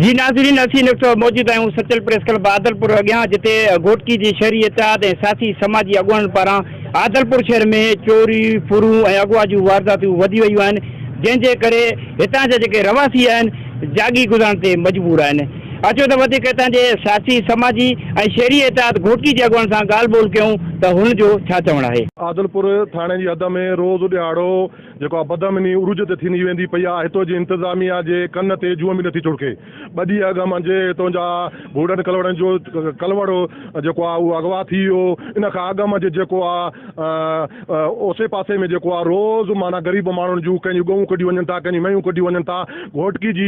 جي ناظرين اسين ان وقت موجود آهيون سچل پريس ڪلب عادلپور اڳيان جتي گهوٽڪي جي شهري اتحاد ۽ سياسي سماجي اڳواڻن پاران عادلپور شهر ۾ چوري ڦرون ۽ اغوا جون وارداتون وڌي ويون آهن جنهن جي ڪري هتان جا جيڪي رهواسي آهن جاڳي گذارڻ تي مجبور آهن اچو ته وڌيڪ هتان جي سياسي سماجي ۽ شهري اتحاد گهوٽڪي جي اڳواڻن سان ڳالهه ٻولهه ڪيون ته هن جو ڇا چوڻ آهي. عادلپور ٿاڻي جي حد ۾ روز ڏهاڙو جيڪا بدامني عروج تي ٿيندي ويندي پئي آ، هتو جي انتظاميا جي ڪن تي جون به نٿي ڇڙڪي. ٻه ڏينهن اڳ مان جي هتو جا گهوڙن ڪلوڙن جو ڪلوڙ جيڪو آ اهو اغوا ٿي ويو، ان کان اڳ مان جي جيڪو آ اوسي پاسي ۾ جيڪو آ روز معنيٰ غريب ماڻهن جون ڪنهن جون ڳئون ڪڍيون وڃن ٿا، ڪنهن جون مينهون ڪڍيون وڃن ٿا. گهوٽڪي جي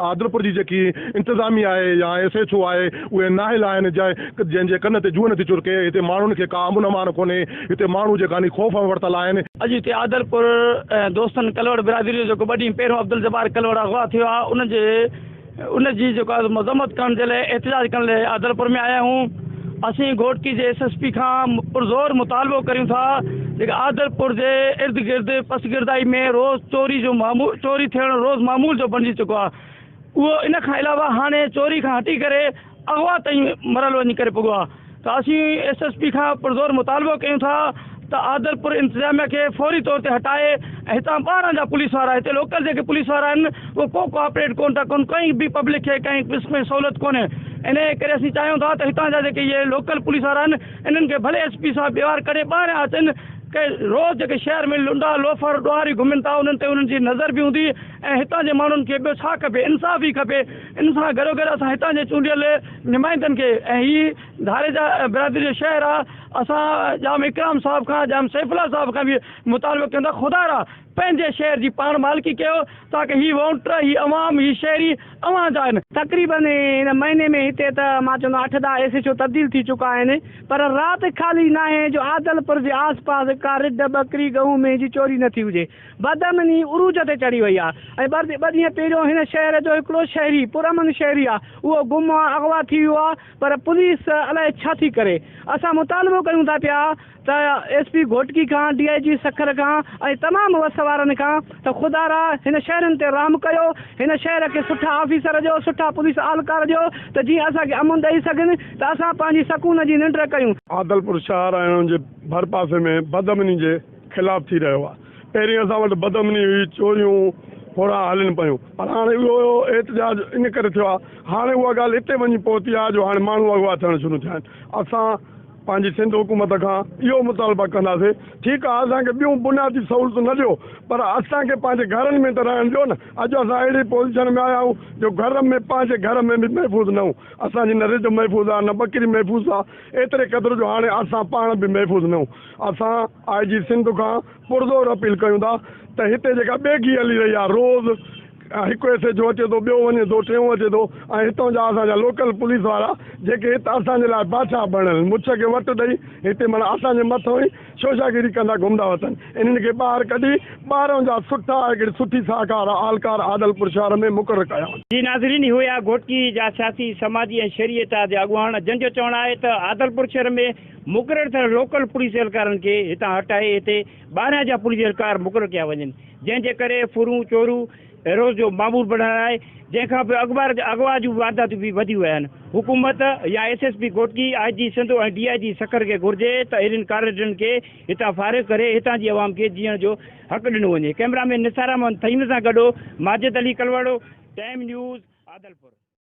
عادلپور جي جيڪي انتظاميا آهي يا ايس ايڇ او آهي اهي نااهل آهن جنهن جي ڪن تي جون نٿي ڇڙڪي. هتي ماڻهن کي ڪا امن امان ڪونهي. هتي ماڻهو جي ڪاني خوف ۾ ورتل آهن. اڄ هتي عادلپور ۽ دوستن ڪلهوڙ برادري جو جيڪو ٻه ڏينهن پهريون عبدالجبار ڪلهوڙ اغوا ٿيو آ ان جي ان جي جيڪو آ مذمت ڪرڻ جي لاء احتجاج ڪرڻ لاء عادلپور ۾ آيا آهيون اسين گهوٽڪي جي ايس ايس پي کان پرزور مطالبو ڪريون ٿا جيڪي عادلپور جي ارد گرد پسگردائي ۾ روز چوري جو چوري ٿيڻ روز معمول جو بڻجي چڪو آ اهو ان کان علاوه هاڻي چوري کان هٽي ڪري اغوا تائين مرحلو وڃي ڪري پڳو آهي ته اسين ايس ايس پي کان پرزور مطالبو ڪيون ٿا ته آدرپور انتظاميه کي فوري طور تي هٽائي ۽ هتان ٻاهران جا پوليس وارا هتي لوڪل جيڪي پوليس وارا آهن اهي ڪو ڪوآپريٽ ڪون ٿا ڪن ڪنهن به پبلڪ کي ڪنهن قسم جي سهولت ڪونهي انهي ڪري اسين چاهيون ٿا ته هتان جا جيڪي اهي لوڪل پوليس وارا آهن انهن کي ڀلي ايس پي صاحب ٻيوار ڪڍي ٻاهران اچن ڪي روز جيڪي شهر ۾ لنڊا لوفر ڏوهاري گهمن ٿا انهن تي انهن جي نظر به هوندي ۽ هتان جي ماڻهن کي ٻيو ڇا کپي انصاف ئي کپي ان سان گڏوگڏ اسان هتان جي چونڊيل نمائندن کي ۽ هي ڌاريجا برادري جو شهر آ اسان ڄام اڪرام صاحب کان ڄام سيف الله صاحب کان به مطالبو ڪيون ٿا خدارا پنهنجي شهر جي پاڻ مالڪي ڪيو تاڪه هي وونٽر هي عوام هي شهري اوهان جا آهن. تقريباً هن مهيني ۾ هتي ته مان چوندو آهيان اٺ ڏهه ايس ايڇ او تبديل ٿي چڪا آهن پر رات خالي ناهي جو عادلپور جي آس پاس ڪا رڍ ٻڪري ڳئون مينهن جي چوري نه ٿي هجي بدامني عروج تي چڙهي وئي آهي ۽ ٻه ڏينهن پهريون هن شهر جو هڪڙو شهري پرامن شهري آهي اهو گم آهي اغوا ٿي ويو آهي پر پوليس الائي ڇا ٿي ڪري اسان مطالبو ڪيون ٿا پيا ته ايس پي گهوٽڪي کان ڊي آء جي سکر کان ۽ تمام وس وارن کان ته خدارا هن شهرين تي رحم ڪيو هن شهر کي سٺا آفيسر ڏيو سٺا پوليس اهلڪار ڏيو ته جيئن اسان کي امن ڏئي سگهن ته اسان پنهنجي سڪون جي ننڊ ڪيون. عادلپور شهر ۽ ان جي ڀرپاسي ۾ بدامني جي خلاف ٿي رهيو آهي، پهرين اسان وٽ بدامني هئي، چوريون ڦورا هلن پيون پر هاڻي اهو احتجاج ان ڪري ٿيو آهي، هاڻي اها ڳالهه اتي وڃي پهتي آهي جو هاڻي ماڻهو اغوا ٿيڻ شروع ٿيا آهن، اسان پنهنجي سنڌ حڪومت کان اهو مطالبه ڪنداسين ٺيڪ آهي اسان کي ٻيون بنيادي سهولتون نه ڏيو پر اسان کي پنهنجي گهرن ۾ ته رهڻ ڏيو نه، اڄ اسان اهڙي پوزيشن ۾ آيا آهيون جو گهر ۾ پنهنجي گهر ۾ به محفوظ نه آهيون، اسان جي نه رڍ محفوظ آهي نه ٻڪري محفوظ آهي ايتري قدر جو هاڻي اسان پاڻ به محفوظ نه آهيون. اسان آء جي سنڌ کان پرزور اپيل ڪيون ٿا ته هتي جيڪا ٻيگهي هلي رهي آهي روز هڪ ايس ايڇ او اچي ٿو ٻيو وڃي ٿو ٽيون اچي ٿو ۽ هتان جا اسان جا لوڪل پوليس وارا جيڪي هت اسان جي لاء بادشاهه بڻيل مڇ کي وٽ ڏئي هتي معنيٰ اسان جي مٿان ئي شوشاگيري ڪندا گهمندا اٿن انهن کي ٻاهر ڪڍي ٻاهران جا سٺا هڪڙي سٺي ساهڪار اهلڪار عادلپور شهر ۾ مقرر ڪيا وڃن. جي ناظرين اهو ئي آهي گهوٽڪي جا سياسي سماجي ۽ شهري اتحاد جا اڳواڻ جن جو چوڻ آهي ته عادلپور شهر ۾ مقرر ٿيل لوڪل پوليس اهلڪارن کي هتان هٽائي هتي ٻاهران جا پوليس اهلڪار مقرر ڪيا وڃن جنهن جي ڪري ڦرون چورو روز جو معمول بڻيل آهي جنهن کان پوء اغوا جون وارداتون به وڌيون ويا آهن حڪومت يا S S P Ghotki I G Sindh ۽ D I G Sukkur کي گهرجي ته اهڙين ڪارريڊرن کي هتان فارغ ڪري هتان جي عوام کي جيئڻ جو حق ڏنو وڃي ڪئميرا مين نثار احمد ٿهيم سان گڏو ماجد علي ڪلواڙو ٽائيم نيوز عادلپور.